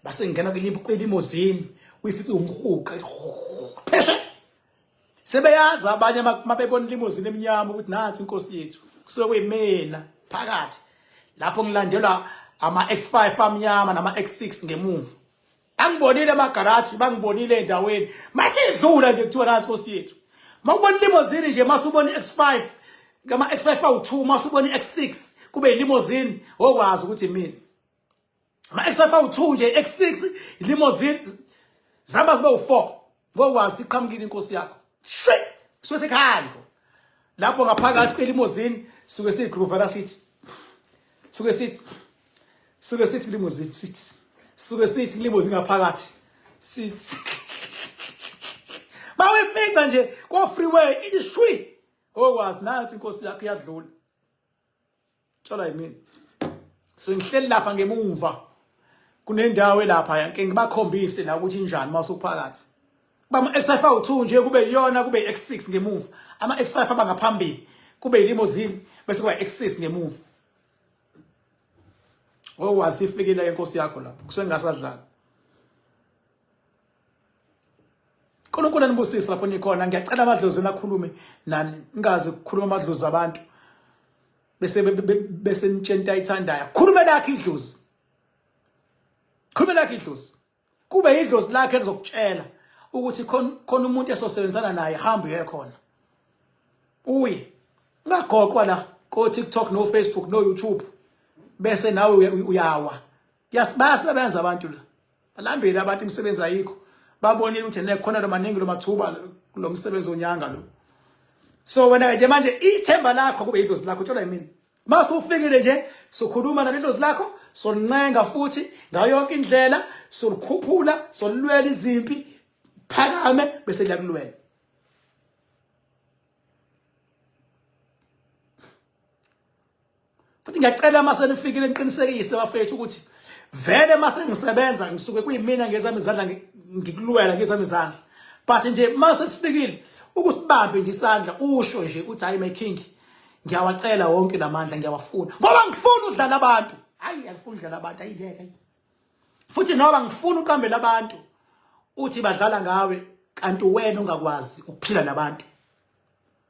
[SPEAKER 1] base ngingena kwelimozini uyifica umhuqa pheshe sebeyazi abanye mabebona limozini emnyama ukuthi nathi inkosi yethu kusuke kuyimina phakathi lapho ngilandelwa ama-x5 amnyama nama-x6 ngemuva angibonile amagaraji bangibonile endaweni masidlula nje kuthiwa nathi inkosi yethu makubona ilimozini nje masubona i-x5 kama-x5 awu-2 masubona i-x6 kube yilimozini wokwazi ukuthi mina ama XFA u2 nje X6 limousine zihamba zibe u4 ngokwazi iqhamukile inkosi yakho shwe suke sekhandlo lapho ngaphakathi kwelimozini suke siyigroovela sithi suke sithi suke sithi kulimozini sithi suke sithi kulimozini ngaphakathi sithi bawefica nje ko freeway ishwi okwazi nathi inkosi yakho iyadlula Thola yimina. So ngihleli lapha ngemuva. Kunendawo elapha yanke ngibakhombise la ukuthi injani uma usuphakathi. Bama X5 awu2 nje kube iyona kube X6 ngemuva. Ama X5 aba ngaphambili. Kube ilimousine bese kuba X6 ngemuva. Owazi ifikile inkosi yakho lapho. Kusengasadlala. uNkulunkulu anibusise lapho nikhona ngiyacela amadlozi nakhulume nani ningazi ukukhuluma amadlozi abantu bese bese nitshenta ithandayo khulume lakhe idlozi khulume lakhe idlozi kube idlozi lakhe elizokutshela ukuthi khona umuntu esosebenzana naye hamba uye khona uye ungagoqwa la ko TikTok no Facebook no YouTube bese nawe uyawa bayasebenza abantu la balambile abantu imisebenzi ayikho babonile ukuthi nekhona lo maningi lo mathuba lo msebenzi onyanga lo so wena nje manje ithemba lakho kube idlozi lakho tshelwa yimina mase ufikile nje sokhuluma nalidlozi lakho solincenga futhi ngayo yonke indlela solikhuphula solilwela izimpi phakame bese liyakulwela futhi ngiyacela uma senifikile niqinisekise bafethu ukuthi vele uma sengisebenza ngisuke kuyimina ngezami izandla ngikulwela ngezami izandla but nje uma sesifikile ukusibambe nje isandla usho nje uthi hayi my king ngiyawacela wonke lamandla ngiyawafuna ngoba ngifuna udlala abantu hayi angifuni udlala abantu ayingeke futhi noba ngifuna uqambela abantu uthi badlala ngawe kanti wena ungakwazi ukuphila nabantu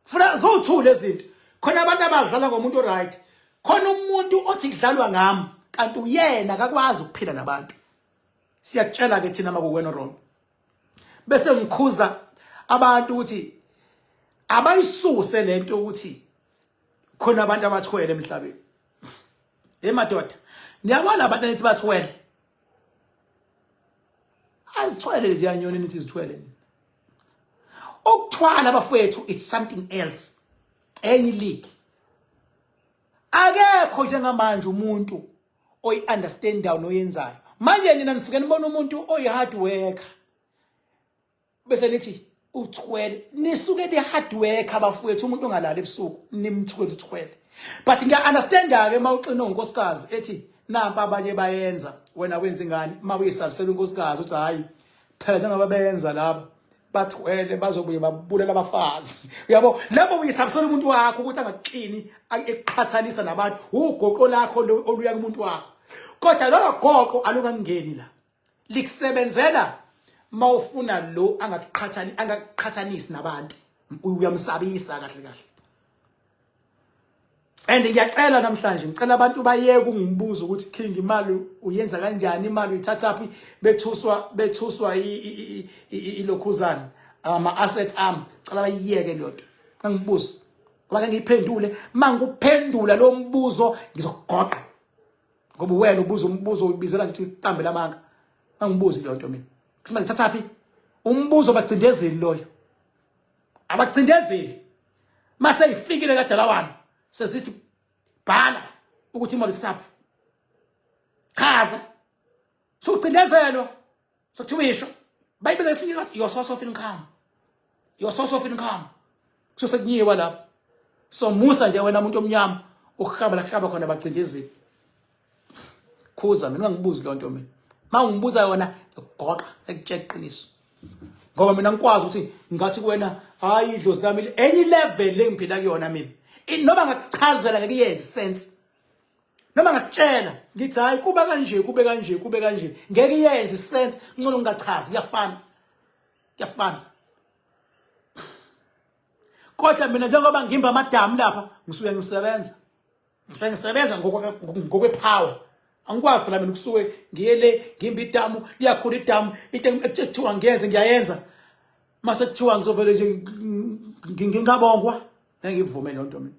[SPEAKER 1] funa zothule izinto khona abantu abadlala ngomuntu right khona umuntu othi kudlalwa ngami kanti uyena akakwazi ukuphila nabantu siyakutshela ke thina makuwena wrong bese ngikhuza abantu ukuthi abayisuse lento ukuthi khona abantu abathwele emhlabeni hey madoda niyabona abantu anithi bathwele azithwele leziyanyoni nithi zithwele nini ukuthwala abafowethu it's something else enye league akekho njengamanje umuntu oyi understand down oyenzayo manje nina nifike nibona umuntu oyi hard worker bese nithi uthwele nisuke ni hard work abafowethu umuntu ongalala ebusuku nimthwele uthwele but ngiya understand ke mawuxina unkosikazi ethi nampa abanye bayenza wena wenza ingane mawuyisabisela unkosikazi uthi hayi phela njengoba benza laba bathwele bazobuye babulela abafazi uyabo labo uyisabisela umuntu wakho ukuthi angaxini eqhathanisa nabantu ugoqo lakho oluya kumuntu wakho kodwa lolo goqo alungangeni la likusebenzela mawufuna lo angakuqhathani angakuqhathanisi nabantu uyamsabisa kahle kahle and ngiyacela namhlanje ngicela abantu bayeke ukungibuza ukuthi king imali uyenza kanjani imali uyithatha phi bethuswa bethuswa ilokhuzana ama assets am cela bayiyeke lento angibuzi ngoba ngiyiphendule mangikuphendula lo mbuzo ngizogoqa ngoba wena ubuza umbuzo ubizela ngithi qambe lamanga angibuzi into yonto mina kusima ngithatha phi umbuzo abacindezeli loyo abacindezeli mase ifikile kadala wami sesithi bhala ukuthi imali sisaphi chaza so ucindezelwa so kuthiwa isho bayibiza esinye ngathi your source of income your source of income kusho sekunyiwa lapho so musa nje wena umuntu omnyama ukuhamba la kuhlaba khona bacindezile khuza mina ungangibuzi lo nto mina ma ungibuza yona ngigoqa ekutshela iqiniso ngoba mina ngikwazi ukuthi ngathi kuwena hayi idlozi lami enye level engiphila kuyona mina noma ngakuchazela ngeke yenze sense noma ngakutshela ngithi hayi kuba kanje kube kanje kube kanje ngeke iyenze sense ngcono ngingachazi kuyafana kuyafana kodwa mina njengoba ngimba amadamu lapha ngisuke ngisebenza ngisuke ngisebenza ngokwepower angikwazi phela mina kusuke ngiye le ngimba idamu liyakhula idamu into ekuthiwa ngiyenze ngiyayenza mase kuthiwa ngizovele nje ngingabongwa engivume lonto mina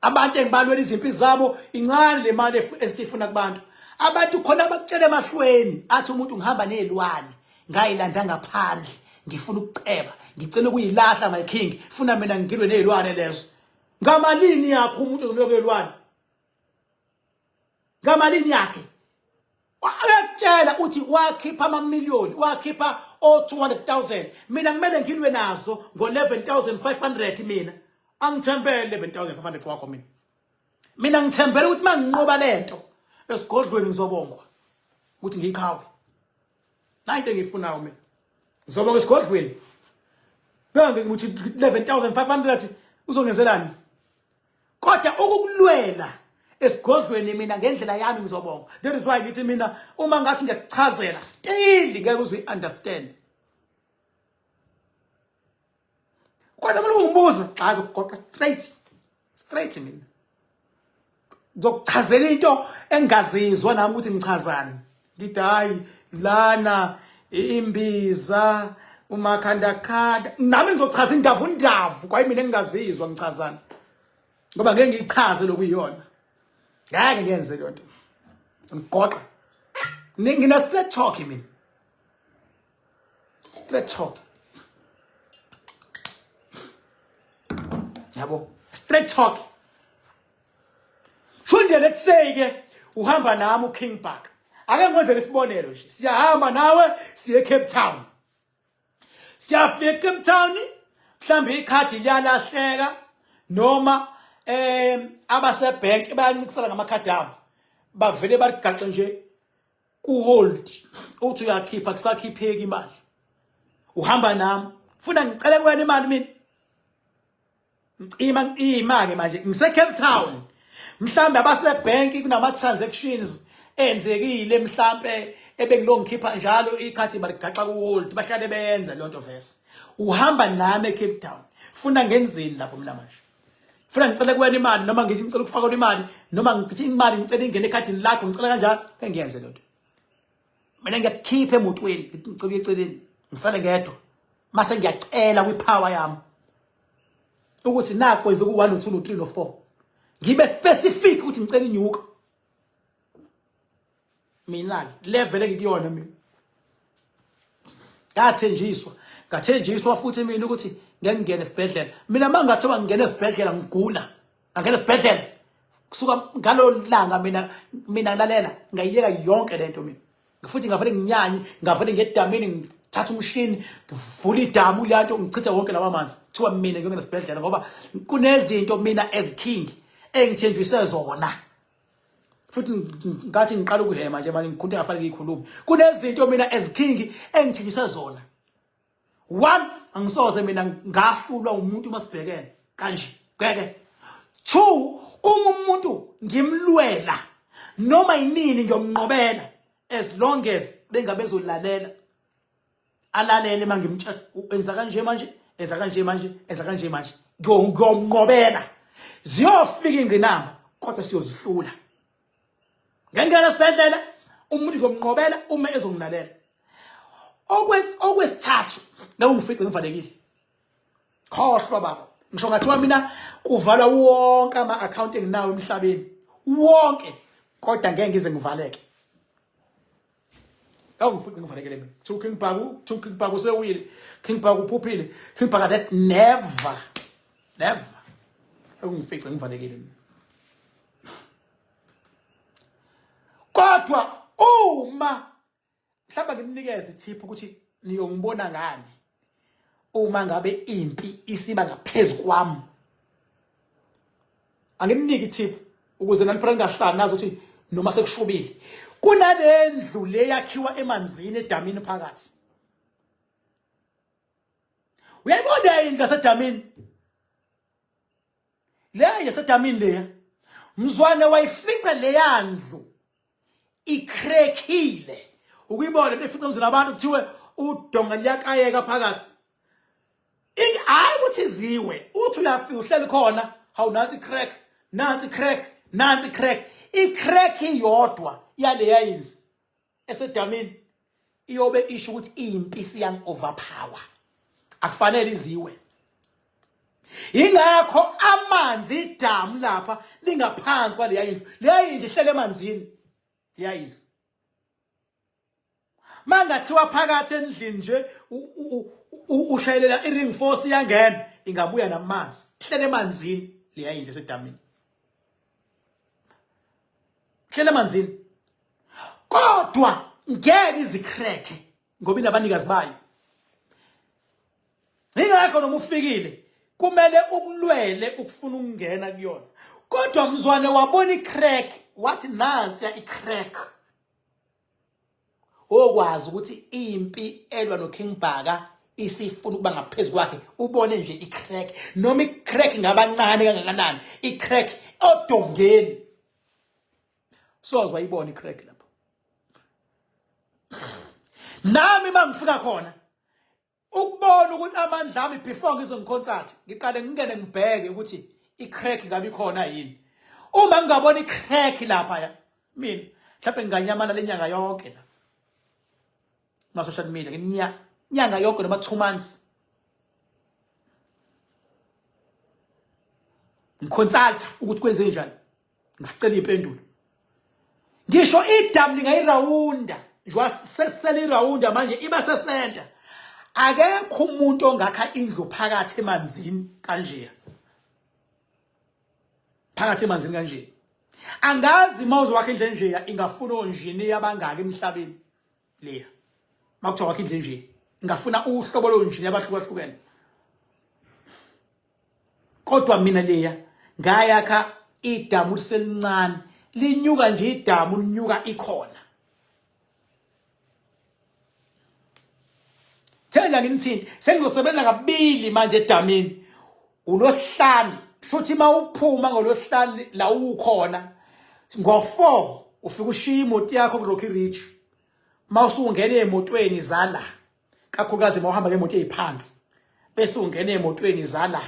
[SPEAKER 1] abantu engibalwela izimpi zabo incane le mali esifuna kubantu abantu khona abakutshela emahlweni athi umuntu ngihamba nezilwane ngayilanda ngaphandle ngifuna ukuceba ngicela ukuyilahla my king funa mina ngilwe nezilwane lezo ngamalini yakho umuntu ngilwe nezilwane ngamalini yakhe uyakutshela uthi wakhipha amamiliyoni wakhipha o-200000 mina kumele ngilwe nazo ngo-11500 mina angithembele 11500 wakho mina mina ngithembele ukuthi uma nginqoba le nto esigodlweni ngizobongwa ukuthi ngiyiqhawe nayi into engiyifunayo mina ngizobonga esigodlweni kange ngithi 11500 uzongenzelani kodwa ukukulwela esigodlweni mina ngendlela yami ngizobonga that is why ngithi mina uma ngathi ngiyakuchazela still ngeke uze uyiunderstand kodwa mina ungibuza xa ngigoqa straight straight mina ngizokuchazela into engazizwa nami ukuthi ngichazani ngithi hayi lana imbiza umakhandakhanda nami ngizochaza indavu undavu kwaye mina ngingazizwa ngichazana ngoba ngeke ngiyichaze lokuyiyona ngeke ngenze leyo nto ngigoqa ngina straight talk mina straight talk yabo straight talk Shunde let's say ke uhamba nami uKing Park. Ake ngwenzele isibonelo nje. Siyahamba nawe siye Cape Town. Siyafika eCape Town mhlambe ikhadi liyalahleka noma eh abase bank bayancikisana ngamakhadi abo. Bavele baligaxe nje ku hold uthi uyakhipha kusakhipheki imali. Uhamba nami. Funa ngicele kuwena imali mina. Ngicima ngicima ke manje ngise Cape Town. Mhlambe abase bank kunama transactions enzekile mhlambe ebengilongikhipha njalo ikhadi baligaxa ku hold bahlale beyenza lonto vese. Uhamba nami eCape Town. Funa ngenzeni lapho mina manje? Funa ngicela kuwena imali noma ngithi ngicela ukufaka imali noma ngithi imali ngicela ingene ekhadini lakho ngicela kanjalo engiyenze lonto. mina ngiyakukhipha emotweni ngithi ngicela eceleni ngisale ngedwa mase ngiyacela kwipower yami ukuthi naku kwenza ku 1 no 2 no 3 no 4 ngibe specific ukuthi ngicela inyuka mina ke level engikuyona mina ngathenjiswa ngathenjiswa futhi mina ukuthi ngeke ngene esibhedlela mina mangathiwa ngingena esibhedlela ngigula angena esibhedlela kusuka ngalo langa mina mina ngilalela ngayiyeka yonke lento mina futhi ngavele nginyanye ngavele ngedamini thatha umshini ngivula idamu leyanto ngichithe wonke lawa manzi kuthiwa mina ngiyongena esibhedlela ngoba kunezinto mina as king engithenjiswe zona futhi ngathi ngiqala ukuhema nje manje ngikhunta ngafanele ngikhulume kunezinto mina as king engithenjiswe zona one angisoze mina ngahlulwa umuntu uma sibhekene kanje ngeke two uma umuntu ngimlwela noma yinini ngiyomnqobela as long as bengabezolalela alalele mangimtshela enza kanje manje enza kanje manje enza kanje manje ngiyomnqobela ziyofika ingqinamba kodwa siyozihlula ngengena esibhedlela umuntu ngomnqobela uma ezongilalela okwes okwesithathu ngabe ngifice ngivalekile khohlwa baba ngisho ngathiwa mina kuvalwa wonke ama account enginawo emhlabeni wonke kodwa ngeke ngize ngivaleke awungifuni ngifanekele mina kuthiwa uking bhaku kuthiwa uking bhaku usewile king bhaku uphuphile king bhaka that never never awungifice ngifanekele mina kodwa uma mhlawumbe ngimnikeze ithiphu ukuthi niyongibona ngani uma ngabe impi isiba ngaphezulu kwami anginiki tip ukuze naniphela ngahlani nazi ukuthi noma sekushubile kunalendlu le yakhiwa emanzini edamini phakathi uyayibona yini ngasedamini le yasedamini leya mzwane wayifica leya ndlu ikrekhile ukuyibona into efica umzila abantu kuthiwe udonga liyakayeka phakathi hayi ukuthi ziwe uthi uyafika uhleli khona hawu nansi crack nansi crack nansi crack icrack iyodwa yaleya indlu esedamini iyobe isho ukuthi iyimpisi yang overpower akufanele iziwe ingakho amanzi idamu lapha lingaphansi kwaleya indlu leya indlu ihlele emanzini leya indlu mangathiwa phakathi endlini nje ushayelela i-ring force iyangena ingabuya namanzi ihlele emanzini leya indlu esedamini hlele emanzini kodwa ngeke izikhreke ngoba inabanikazi bayo ingakho noma ufikile kumele ukulwele ukufuna ukungena kuyona kodwa mzwane wabona icrack wathi nansi ya icrack okwazi ukuthi impi elwa no King Bhaka isifuna ukuba ngaphezulu kwakhe ubone nje icrack noma icrack ngabancane kangakanani icrack odongeni sozwa ibona icrack lapho nami mangifika khona ukubona ukuthi amandla ami before ngize ngikhonsathi ngiqale ngingene ngibheke ukuthi i-crack ngabe ikhona yini uma ngingabona i-crack lapha ya mina mhlawumbe nginganyamana le nyanga yonke la ma-social media nginya nyanga yonke noma two months ngiconsulta ukuthi kwenze njani ngisicela impendulo ngisho idamu lingayirawunda njengoba sesele irawunda manje iba sesenta akekho umuntu ongakha indlu phakathi emanzini kanjeya phakathi emanzini kanje angazi uma uzowakha indlu enjeya ingafuna onjini yabangaki emhlabeni leya makuthiwa wakhe indlu enje ngafuna uhlobo lonjini abahlukahlukene kodwa mina leya ngayakha idamu liselincane linyuka nje idamu linyuka ikhona thenda ngimthinte sengizosebenza kabili manje edamini ulosihlanu shuthi uma uphuma ngolosihlanu la ukhona ngo-four ufike ushiye imoto yakho ku-rocky ridge uma usungena emotweni zala kakhulukazi uma uhamba ngemoto eyiphansi bese ungena emotweni zala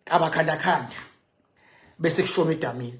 [SPEAKER 1] kabakhandakhanda bese kushona edamini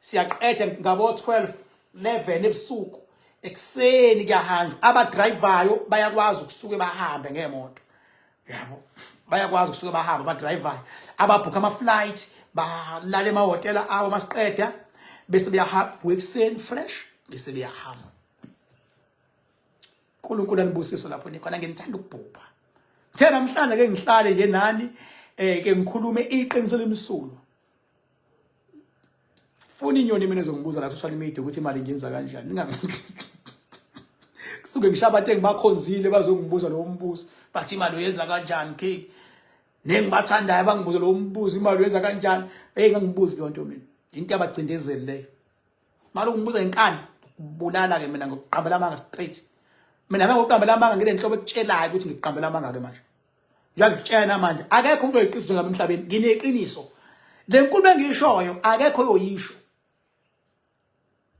[SPEAKER 1] siyaqeda ngabo 12 11 ebusuku ekuseni kuyahanjwa abadrivayo bayakwazi ukusuke bahambe ngemoto yabo bayakwazi ukusuke bahambe abadrivayo ababhukha ama-flight balale emahhotela abo masiqeda bese beyahamba ekuseni fresh bese beyahamba unkulunkulu anibusiso lapho nikhona ngenithanda ukubhubha ngithe namhlanje ke ngihlale nje nani um ke ngikhulume iqiniso lemsulwa funa inyoni mina ezongibuza la social media ukuthi imali ngenza kanjani kusuke ngishabathe ngibakhonzile bazongibuza lowo mbuzo bathi imali uyenza kanjani cake nengibathandayo bangibuze lowo mbuzo imali uyenza kanjani eyi ngangibuzi leyo nto mina into yabacindezeli leyo mali ungibuza inkani kubulala-ke mina ngokuqambela amanga straight mina me ngokuqambela amanga ngilenhlobo ekutshelayo ukuthi ngiqambela amanga-ke manje Ngiyakutshena manje akekho umuntu oyiqiniso njengami emhlabeni ngineqiniso. Le nkulumo engiyishoyo akekho oyoyisho.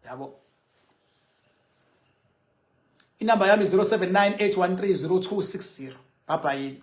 [SPEAKER 1] Yabo. Inamba yami 0798130260. Bye bye.